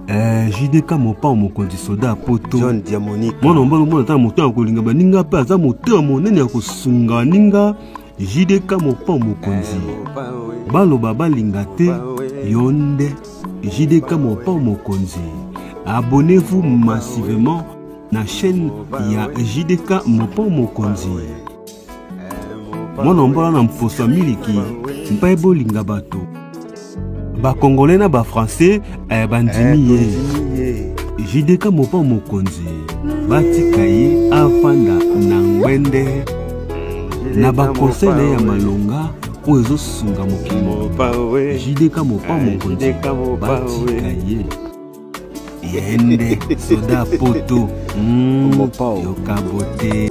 Eh, jdk mopao mokonzi soda ya poto john diamonique mwana mobali omona ata na moto ya kolinga baninga mpe aza moto ya monene ya kosunga baninga jdk mopao mokonzi eh, baloba balinga te yo nde jdk mopao mokonzi abonnez-vous massivement na chaîne ya jdk mopao mokonzi mwana mbola na mposo ya miliki mpe bolinga bato bakongole na bafrançais eh, bandimi ye jideka mopa mokonzi batika ye afanda na ngwende na bakonsei na ye ya malonga oyo ezosunga mokili mobimba jideka mopa eh, mokonzi batika ye yende soda poto mm, yokabote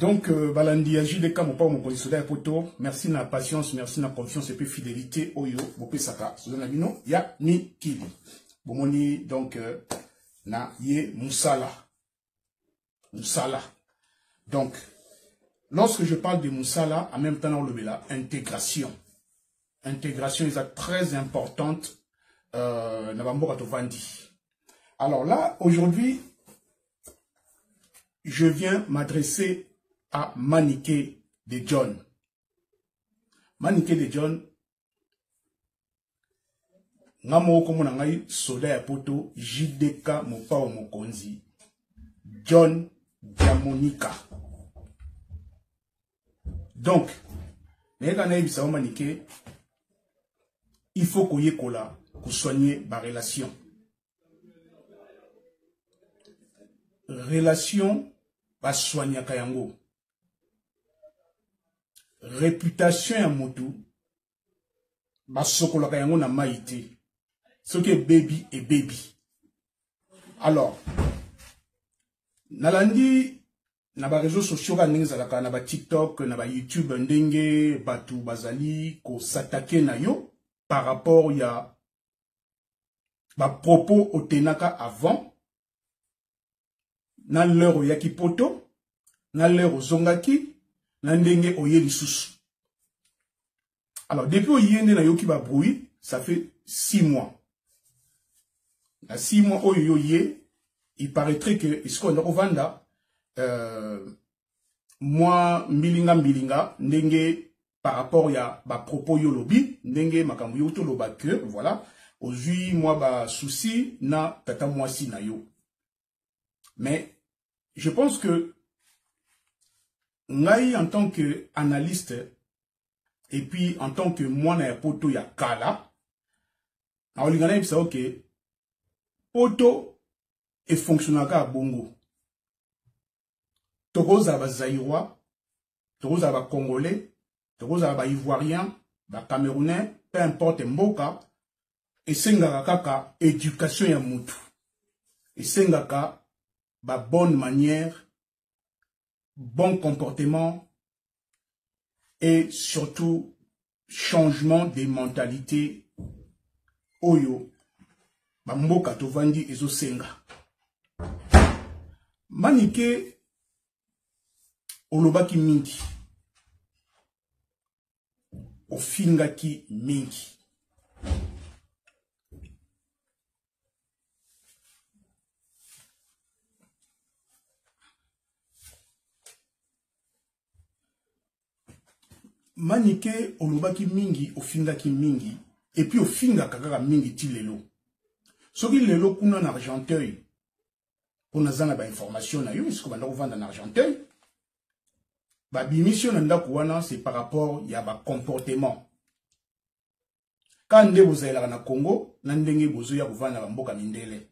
donc euh, balandi ya jude ka mopao mokonzi soda ya poto merci na patience merci na confiance epe fidélité oyo bopesaka soda na bino ya mikili bomoni donc euh, na ye mosala mosala donc lorsque je parle de mosala en même temps naolobela intégration integration eza très importante euh, na bamboka tovandi alors là aujourd'hui je viens m'adresser à manike de john manike de john nga moko kombo na ngai soda ya poto jdk mopao mokonzi john diamonika donc nayeka nayebisa yo manike il faut koyekola kosoigne barelation relation basoignaka yango reputation ya motu basokolaka yango na mai te soki ebebi ebebi alors nalandi na ba réseaux sociaux kaka ndenge ezalaka na ba tiktok na ba youtube ndenge bato bazali kosatake na yo par rapport ya ba propos otenaka avant na l'heure oyaki poto na l'heure ozongaki na ndenge oye lisusu alors depuis oye nde nayoki ba bruit ça fait six mois na six mois oyo yo ye il paraîtrait que esikoyo ndako vanda euh, mwa mbilinga mbilinga ndenge par rapport ya ba propos yo lobi ndenge makambo yo toloba que voilà ozui mwa ba souci na tata mwasi na yo mais je pense que ngai en tant que analyste et puis en tant que mwana ya poto ya kala nakolinga nayebisa yo ke poto efonctionnaka ya bongo tokozala bazairois tokozala ba congolais tokozala ba ivoiriens ba camerounais peu importe mboka esengaka kaka education ya mutu esengaka ba bonne manière bon comportement et surtout changement des mentalités oyo bamboka tovandi ezosenga manike olobaki mingi ofingaki mingi manike olobaki mingi ofingaki mingi epuis ofingaka kaka mingi ti lelo soki lelo kuna na argenteuil mpo naza na bainformation na yo esiko banda kovanda na argenteuil babimisi yo na ndako wana c'est par rapport ya bacomportement ka nde bozalelaka na congo na ndenge bozoya kovanda na bamboka mindele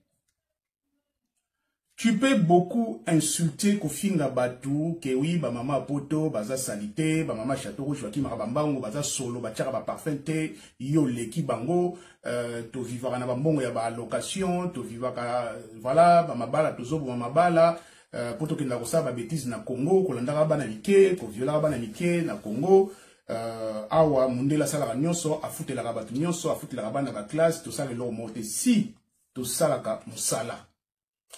tu peux beaucoup insulter kofinga bato ke wi bamama ya poto baza sali te bamama chateau rouge bakimaka bambango baza solo batiaka baparfum te yo oleki bango euh, tovivaka na bambongo ya baallocation tovivaka euh, voilà bamabala tozoboma mabala euh, mpo tokendaka kosala babetise na congo kolandaka bana mike koviolaka bana mike na congo euh, awa mondele asalaka nyonso afutelaka bato nyonso afutelaka bana baklasse tosala eloko moko te si tosalaka mosala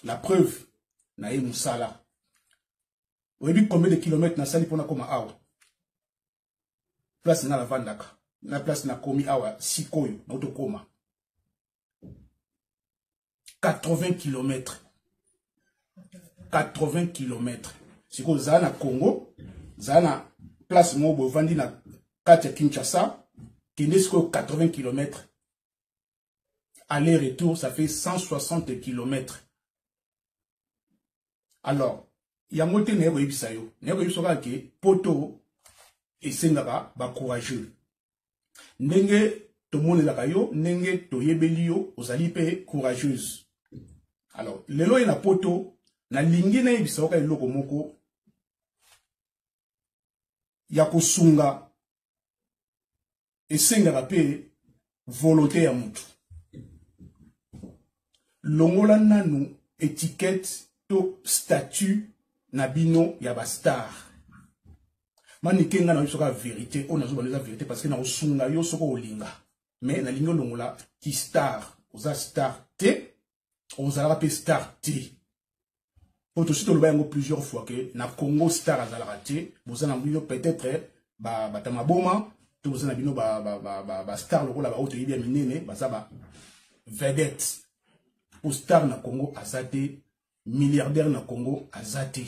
la preuve na ye mosala oyebi combien de kilomètre nasali mpo nakoma awa place nga navandaka na place nakomi awa sikoyo nautokoma 80 km 80 km sikoyo zala na congo zala na place moko bovandi na kati ya kinshasa kende sikoyo 80 km Aller retour ça fait 160 km. Alors yango te naye koyebisa yo naye koyebisa kaka ke poto esengaka bacourageux ndenge tomonelaka yo ndenge toyebeli yo ozali mpe courageuse alors lelo ye na poto nalingi nayebisa yoka eloko moko ya kosunga esengaka mpe volonté ya motu longola nanu etiquette to statut na bino ya bastar manike ngai nayebi soki ya verité oyo nazoba eza verité parce que nakosunga yo soki olinga mais nalingi olongola kistar oza star te ozalaka mpe star te mpo tosi toloba yango plusieurs fois ke na congo star azalaka te boza na bino peut-être bata maboma to boza na bino bastar lokola baoyo toyebi ya minene baza ba vedette mpo star na congo aza te milliardaire na congo aza te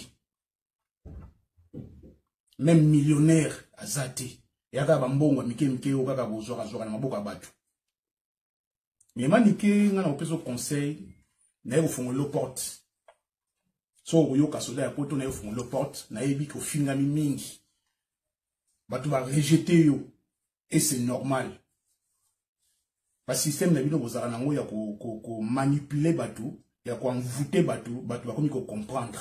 même millionnaire aza te eyaka bambongo ya mike mike oyo kaka kozwakazwaka na maboko ya bato mais manike nga na kopesa conseil naye kofungolelo porte so okoyoka soda ya poto naye kofungolelo porte nayebi kofingami mingi bato barejete yo et c'est normal basystème na bino bozalaka nango ya komanipule ko, ko bato ya koenvoute bato bato bakomi kocomprendre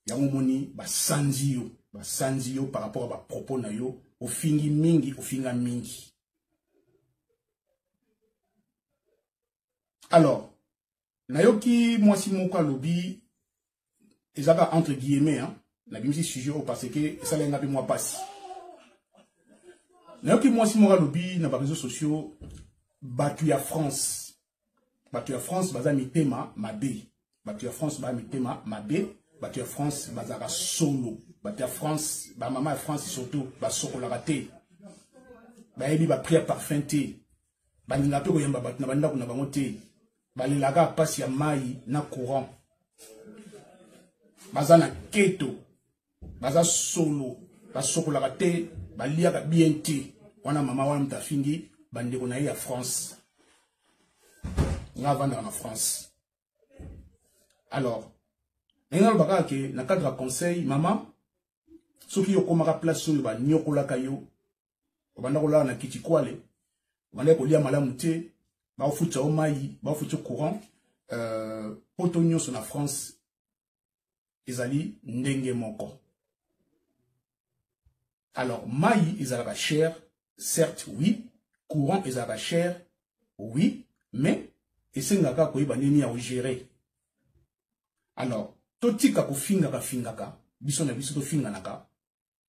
yango omoni basanzi yo basanzi yo par rapport ya bapropos na yo ofingi mingi ofinga mingi alors nayoki mwasi moko alobi ezaka entre guillemets hein? nabimisi sujet oyo parce que esala ye nga mpe mwa mpasi nayoki mwasi moko alobi na bareseau sociaux bato ya france bato ya france baza mitema mabe bato ya france baya mitema mabe bato ya france bazalaka solo bato ya france bamama ya france surtout basokolaka te bayebi bapri ya parfum te balingaka mpe koyamba bato na bandako na bango te balelaka mpasi ya mai na courant baza na keto baza solo basokolaka te baliaka bien te wana mama wana moto afingi bandeko na ye ya france nga avandaka na france alors ndenge naloba kaka ke na cadre ya conseil mama soki yo okomaka place oyo banyokolaka yo obanda kolala na kitikwale obandaki kolia malamu te baofutisa yo mai baofutisa courant euh, poto nyonso na france ezali ndenge moko alors mai ezalaka cher certes oui courant ezalaka cher oui mais esengaka koyeba ndenge ya ogere alors totika kofingaka fingaka biso na biso tofinganaka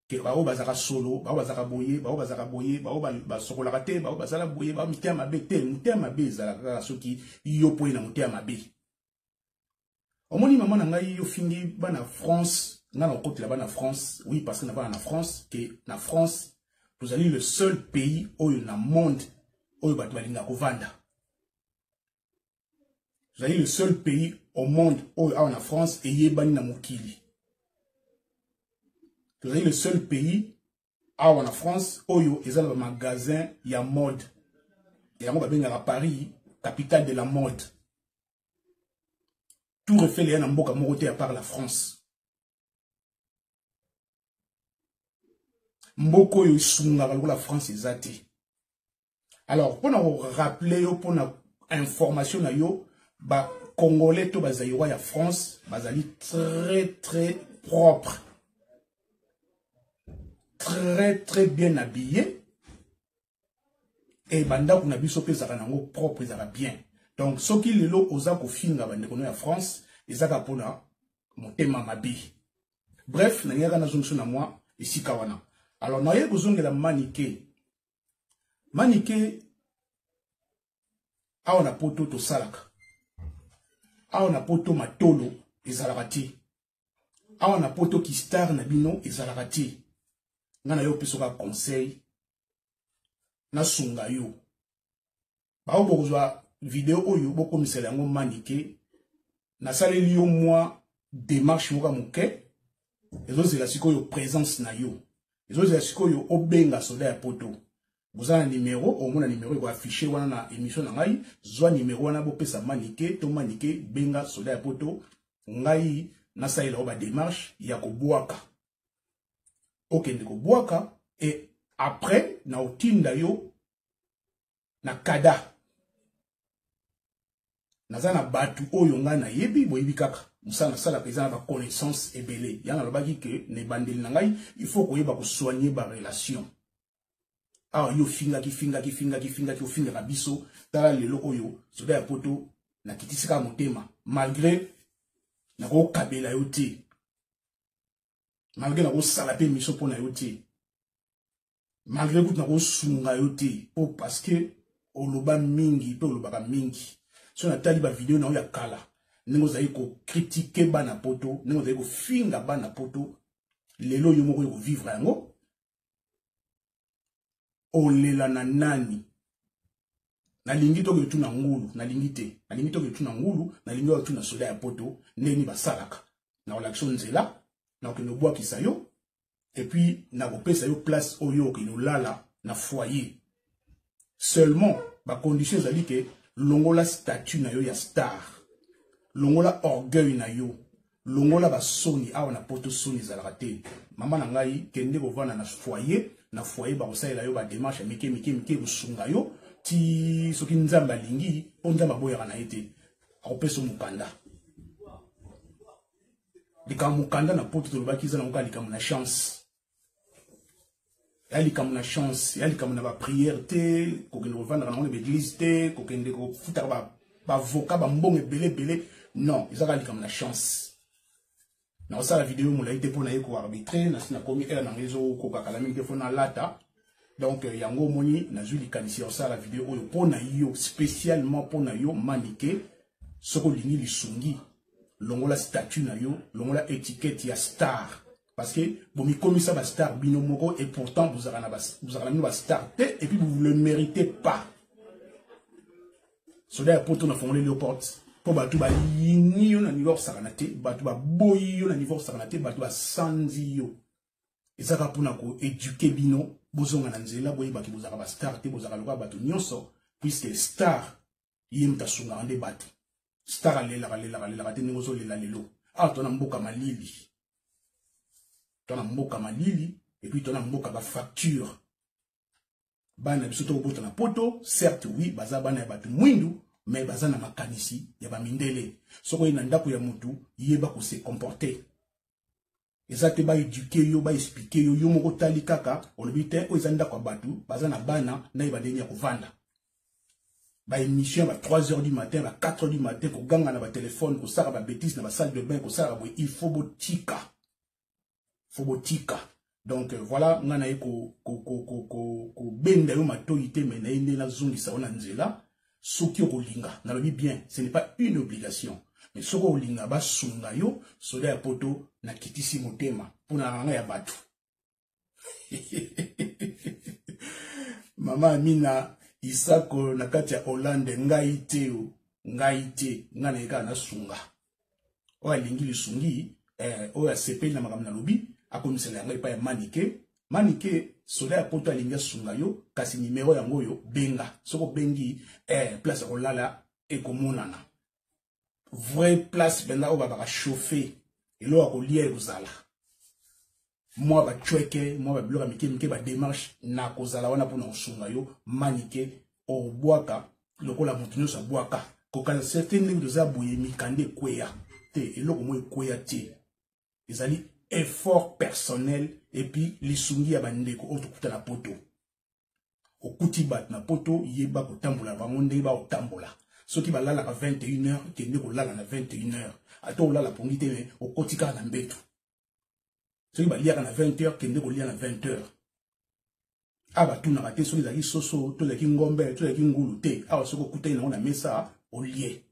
ke baoyo bazalaka solo baoyo bazalaka boye baoyo bazalaka boye baoyo basokolaka te baoyo bazala boye baoyo motema mabe te motema mabe ezalaka kaka soki yo mpo ye na motema mabe omoni mama na ngai yo fingi bana france nga na kokotela bana france oui parce que na bana na france ke na france tozali le seul pays oyo na monde oyo bato balingaka kovanda tozali le seul pays au monde oyo awa na france eyebani na mokili tozali le seul pays awa na france oyo eza na bamagasin ya mode yango babengaka paris capitale de la mode tour eiffel eya na mboka moko te apart la france mboka oyo esungaka lokola france eza te alors mpo na koraple yo mpo na information na yo bacongolais to bazairois ya france bazali très très propre très très bien habillé e bandako na biso mpe ezalaka nango propre ezalaka bien donc soki lelo oza kofinga bandeko no ya france ezaka mpona motema mabe bref nalingaka nazongiso na mwa esika wana alors naye kozongela manike manike awa na poto tosalaka awa na poto matolo ezalaka te awa na poto ki star na bino ezalaka te nga na yo opesaka conseil nasunga yo bao bokozwa video oyo bokomisela yango manike nasaleli yo mwa demarche moko moke ezozela sikoyo présence na yo ezozela sikoyo obenga soda ya poto oza na numero omona numero eko affiche wana na émission na ngai zwa numero wana bopesa manike to manike benga soda ya poto ngai nasalela yo bademarche ya kobwaka okende kobwaka e après na otinda yo na kada naza na bato oyo ngai nayebi boyebi kaka mosala nasalaka eza na baconnaissance ebele yango nalobaki ke na ebandeli na ngai il faut koyeba kosoigne barelation awa yo ofingaki fingaki fingaki fingaki ofingaka biso tala lelo oyo soda ya poto nakitisi kaka motema malgré nakokabela yo te malgré nakosala mpe miso mpo na yo te malgré kutu nakosunga yo te mpo parce que oloba mingi mpe olobaka mingi so natali bavideo na yo ya kala ndenge ozali kokritike bana poto ndenge ozali kofinga bana poto lelo yo moko okovivre yango olela na nani nalingi toke etuna ngulu nalingi te nalingi toke etuna ngulu nalingi oyo tuna soda ya poto ndeni basalaka nakolakisa yo nzela nakokende obwakisa yo epuis nakopesa yo place oyo okende olala na foyer seulement ba conditions ezali ke longola statut na yo ya star longola orgueil na yo longola ba soni awa na poto soni ezalaka te mama na ngai kende kovanda na foyer na foyer bakosalela yo ba démarche mike mike mike kosunga yo ti soki nzambe alingi mpo nzambe aboyaka na ye te akopesa mokanda likambo mokanda na poto tolobaki eza nango kaka likambo na chance ya likambo na chance ya likambo na bapriere te kokende kovandaka nango na baeglise te kokende kofutaka bavoka bambongo ebele ebele non eza kaka likambo na chance nakosala video molai te mpo na ye koarbitre nasi nakomi ere nango ezokokakala mingi te mpo nalata donc euh, yango omoni nazwi likanisi ya kosala video oyo mpo na yo spécialement mpo na yo manike soki olingi lisungi longola statut na yo longola etikete ya star Parce que vous me commis ça, star, bino moko, et pourtant vous avez la star, et puis vous ne le méritez pas. Soda ya poto na fongole le porte. Po batu ba yini yo na niveau sakana te, batu ba boyi yo na niveau sakana te, batu ba sanzi yo. Ezaka pona ko éduquer bino, bozonga na nzela boye baki bozaka ba star te, bozaka lokola batu nyonso, puisque star ye moto asungaka nde bato star alelaka lelaka lelaka te ndenge ozolela lelo awa ah, to na mboka malili to na mboka malili epuis to na mboka bafacture bana biso tokobota na poto certes oui baza bana ya bato mwindu mais baza na makanisi ya bamindele soki oye na ndako ya motu yeba kose comporte eza te baeduke yo baexplike yo yo moko otali kaka olobi te oyo eza ndako ya bato baza na bana naye bandenge ya kovanda baémission ba 3 heures du matin ba 4 heures du matin koganga na batelefone kosala babétise na basalle de bain kosalaka boye il faut botika faut botika donc euh, voilà nga naye kobenda yo matoi te me naye nde nazongisa yo na nzela soki okolinga nalobi bien ce n'est pas une obligation mais soki okolinga basunga yo soda ya poto nakitisi motema mpo na ranga ya bato mama amina isako na kati ya hollande ngai te o ngai te ngai naye kaka nasunga oyo alingi lisungi eh, oyo asepeli na makambo nalobi akomisela yango epai ya manike manike soda ya poto alingi asunga yo kasi nimero yango oyo benga soki obengi eh, place ya kolala ekomonana vrai place mpenza oyo babaka chauffe eloko ya kolia ekozala mwa bacweke mwa babiloko ya mike mike bademarche nakozala wana mpo na kosunga yo manike obwaka lokola moto nyonso abwaka kokanisa te ndenge toza boye mikanda ekweya te eloko moko ekweya te ezali effort personnel epuis lisungi ya bandeko oyo tokuta na poto okuti bato na poto yeba kotambola na bango ndenge bakotambola soki balalaka 21 heure kende kolala na 21 heure ata olala pongi te me okoti kaka na mbetu soki baliaka na 20 heures kende kolia na 20 heures awa batunaka te soki ezalaki soso to ezalaki ngombe to ezalaki ngulu te awa soki okutani nango na mesa olie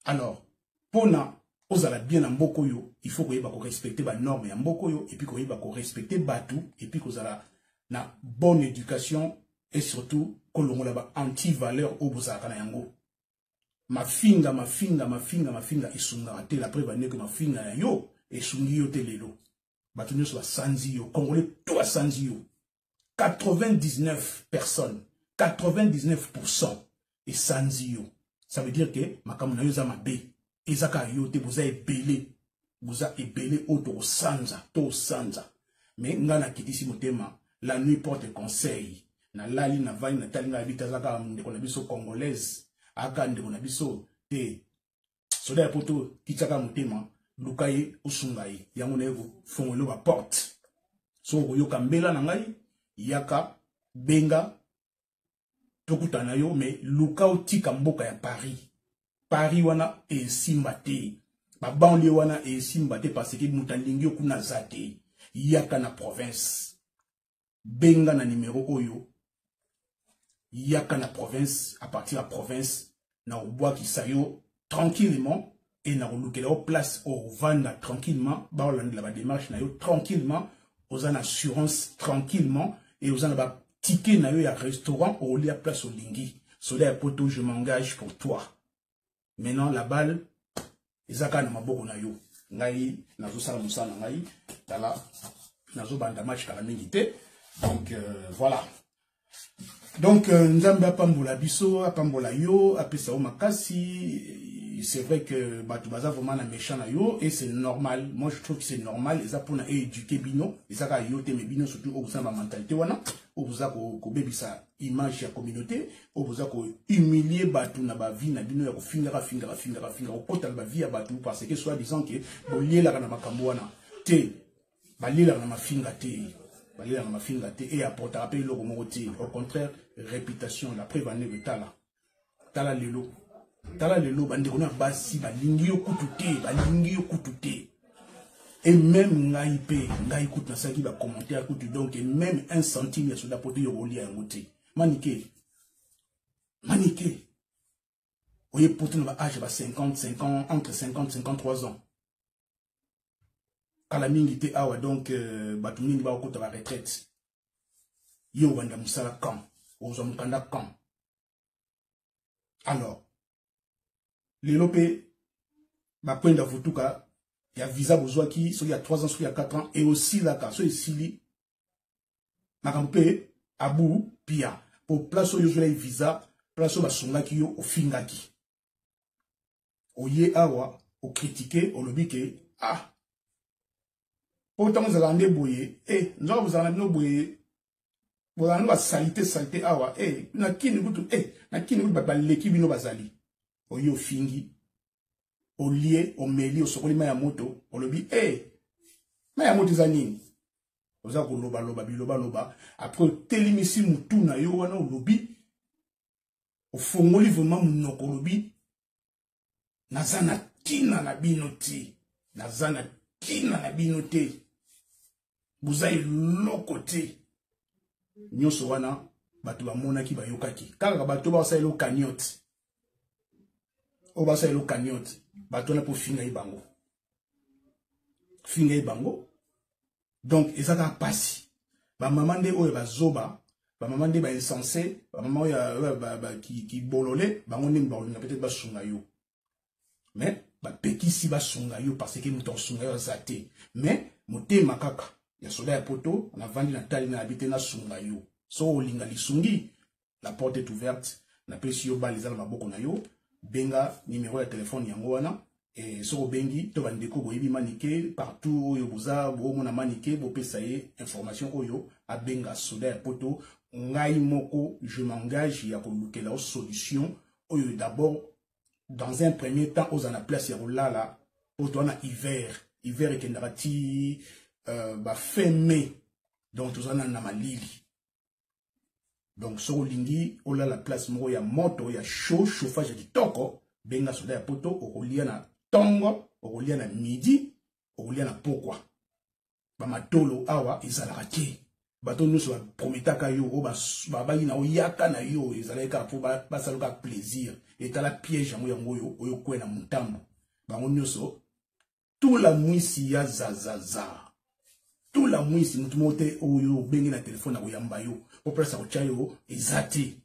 alors mpona ozala bien na mboka oyo il faut koyeba korespecte banorme ya mboka oyo epuis koyeba korespecte bato epuis kozala na bonne éducation et surtout kolongola ba anti valeur oyo bozalaka na yango mafinga mafinga mafinga mafinga esungaka te la preuve ande que mafinga ya yo esungi yo te lelo bato nyonso basanzi yo congolais to asanzi yo 99 personnes 99 pourcent esanzi yo ça veut dire que makambo na yo eza mabe eza kaka yo te boza ebele boza ebele oyo tokosanza tosanza me ngai nakitisi motema la nuit porte conseil nalali navandi natali ngai abita aza kaka ndeko na biso congolaise aka ndeko na biso te soda ya poto kityaka motema luka ye osunga ye yango naye kofongolo baporte soki okoyoka mbela na ngai yaka benga tokutana na yo mais luka otika mboka ya paris paris wana esimba te babanlie wana esimba te parce que moto alingi yo kuna aza te yaka na province benga na numero oyo yaka na province à partir ya province na obwakisa yo tranquillement et na kolukela yo place au vanda tranquillement ba olandela ba démarche na yo tranquillement aux en assurance tranquillement et aux en ba ticket na yo ya restaurant au lia place au lingi soda ya poto je m'engage pour toi maintenant la balle eza kaka na maboko na yo ngai nazosala mosala na ngai tala nazobanda match kala mingi te donc euh, voilà donc euh, nzambe apambola biso apambola yo apesa yo makasi c'est vrai que bato baza vraiment na méchant na yo et c'est normal moi je trouve que c'est normal eza mpona éduquer bino eza kaka yo te mais bino surtout oyo boza na bamentalité wana oyo boza kobebisa image ya communauté oyo boza ko humilier bato na ba vie na bino ya kofingaka fingaka fingaka fingaka kokota na ba vie ya bato parce que soit disant que bolielaka na makambo wana te balielaka na mafinga te balelaka mafinga te e apportaka mpe eloko moko te au contraire réputation la preuve ane kotala tala lelo tala lelo bandeko na basi balingi yo kutu te balingi yo kutu te et même ngai mpe ngai kutu nasalaki bacommentaire kutu donc même un centime ya soda poto yokolia yango te manike manike oye poto na baage ba 50 50 entre 50 53 ans kala mingi te awa donc euh, bato mingi bakokota baretraite yo obanda mosala quand ozwa mokanda quand alors lelo mpe bakwenda vutuka ya visa bozwaki soki ya 3 ans soki ya 4 ans eosilaka so esili makambo mpe abu pia mpo place oyo ozwelaki visa place oyo basungaki yo ofingaki oye awa o critiquer olobi ke ah po tango zala nde boye eh nzoka bozala na bino boye bozala nde ba salite salite awa eh na kini kutu eh na kini kutu baleki bino bazali oye ofingi olie omeli osokoli mai ya moto olobi eh mai ya moto eza nini oza kolobaloba bilobaloba apres otelimisi motu na yo wana olobi ofongoli vrema monoko olobi naza na ntina na bino te naza na ntina na bino te boza eloko te nyonso wana bato bamonaki bayokaki kaka bato basalelo cagnote oyo basalelo cagnote bato wana mpo ofingai bango finga ye bango donc eza kaka mpasi bamama nde oyo bazoba bamama nde bainsense bamama oyo kibolole bango nde bakolinga peut-être basunga yo mais bapekisi basunga yo parce que moto akosunga yo aza te mais motema kaka ya soda ya poto navandi na tali na yabi te nasunga yo so olinga lisungi la porte est ouverte napesi yo bale eza na maboko na yo benga nimero ya telefone yango wana e, soki obengi to bandeko boyebi manike partout oyo boza boomona manike bopesa ye information oyo abenga soda ya poto ngai moko je m'engage ya kolukela yo solution oyo d'abord dans un premier temps ozala na place ya kolala poto wana hiver hiver ekendaka ti euh, ba fin mai donc toza na malili donc soki olingi olala place moko ya moto ya chaud chauffage ya kitoko benga soda ya poto okolia na ntongo okolia na midi okolia na pokwa bamatolo awa ezalaka te bato nyonso baprometaka yo oyo babaki na oyaka na yo ezalaki kaka mpo basala kaka plaisir etala piège yango yango oyo oyo kwe na motambo bango nyonso tula mwisi ya zazaza tula mwisi motu moko te oyo obenge na telefone akoyamba yo po place akotya yo eza te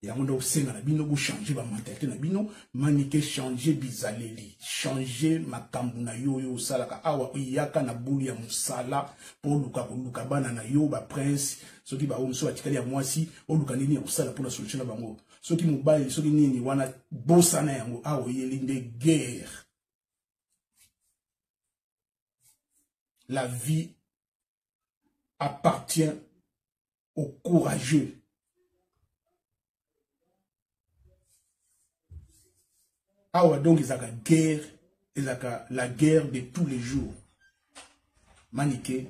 yango nde osenga na bino bochange bamentalité na bino manike change bizaleli change makambo na yo oyo osalaka awa oyaka na bulu ya mosala mpo oluka koluka bana na yo baprince soki baoyo mosusu batikali ya mwasi oluka nini ya kosala mpo na solution na bango soki mobali soki nini wana bosana yango awa oyeli nde guerre la vie appartient au courageux awa donc ezalaka guerre ezalaka la guerre de tous les jours manike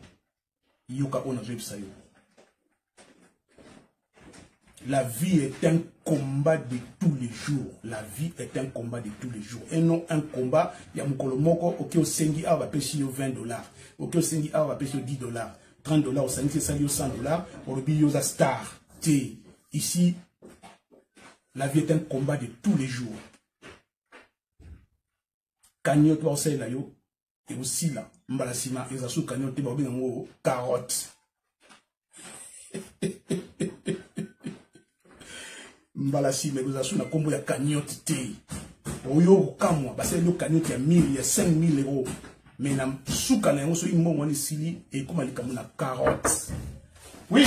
yoka oyo nazoyebisa yo la vie est un combat de tous les jours la vie est un combat de tous les jours et non un combat ya mokolo moko oke osengi awa bapesi yo 20 dollars oke osengi awa bapesi yo 10 dollars 30 dollars osangisi esali yo 100 dollars olobi yo oza star te ici la vie est un combat de tous les jours cagnotte baosalela yo ekosila mbala nsima eza su cagnon te bakobenga yango carotte mbala nsima ekozala su na nkombo ya cagnotte te oyo kokamwa basaleli yo cagnotte ya 1000 ya 5000 euro mais na suka na yango soki mbongo wana esili ekoma likambo na carotte oui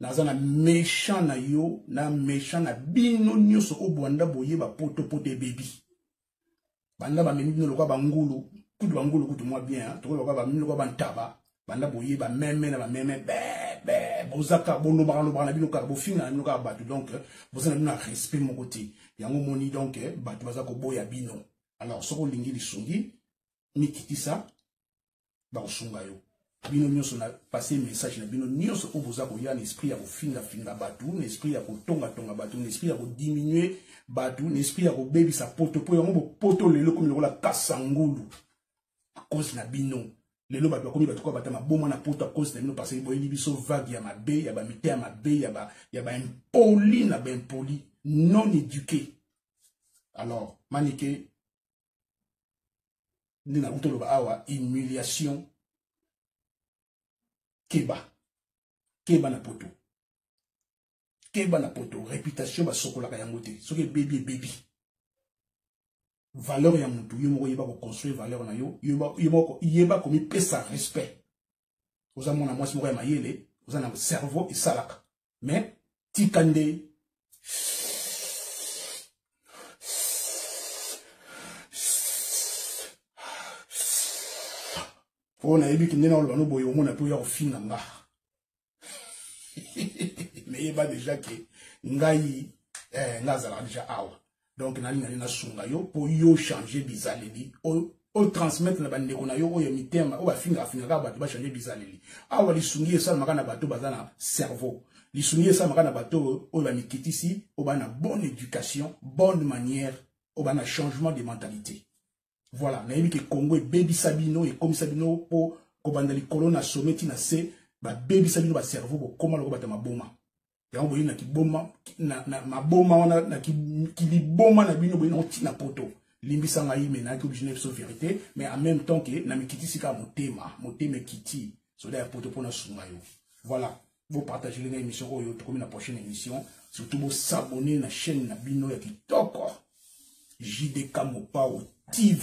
naza na méchant na yo na méchant na bino nyonso oyo bwanda boye bapotopoto ebebi banda bamemi bino lokola bangulu kutu bangulu kutu mwa bien tokoki lokola bamemi lokola bantaba banda boye bameme na bameme bebe bozaka bolobaka lobaka na bino kaka bofinga na bino kaka bato donc boza na bino na respect moko te yango omoni donc bato baza koboya bino alors soki olingi lisungi mikitisa bakosunga yo bino nyonso na passe message na bino nyonso oyo boza koya na esprit ya kofingafinga bato na esprit ya kotongatonga bato na esprit ya kodiminue bato na esprit ya kobebisa poto mpo yango bopoto lelo komi lokola kasangulu akozi na bino lelo bato bakomi bato koya bata maboma na poto akozi na bino parce boyebi biso vague ya mabe ya bamite ya mabe ya baimpoli na baimpoli non éduqué alors manike nde nakuti oloba awa humiliation keba keba na poto keba na poto réputation basokolaka yango te soki ebebi ebebi valeur ya motu yo moko yeba koconstruire valeur na yo yeba komipesa respect oza mwana mwasi moko ya mayele oza na cerveau esalaka mais tika nde mpo nayebi kende na oloba noboye omona mpe oya kofinga nga meyeba deja ke ngai eh, nga azalaka deja awa donc nalingani nasunga yo mpo yo change bizaleli otransmettre na bandeko na yo oyo ya mitema oyo bafingaka fingaka bato bachange bizaleli awa lisungi esalamaka na bato baza na cerveau lisungi esalamaka na bato oyo bamikitisi oyo baa na bonne éducation bonne manière oyo baa na changement de mentalité voilà nayebi ke congo ebebisa bino ekomisa bino mpo kobanda likolo na someti na se babebisa bino bacerveau bokoma loko bato ya maboma yango boye na kiboma na, na maboma wana na kiliboma na bino boye na otina poto limbisa ngai me nayaki oblige na biso verité mais en même temps ke na mikitisi kaka motema motema ekiti soda ya poto mpo nasunga yo voilà bopartagele ngai émission oyo tokomi na prochaine émission surtout bosabone na chaîne na bino ya kitoko jdk mopao tv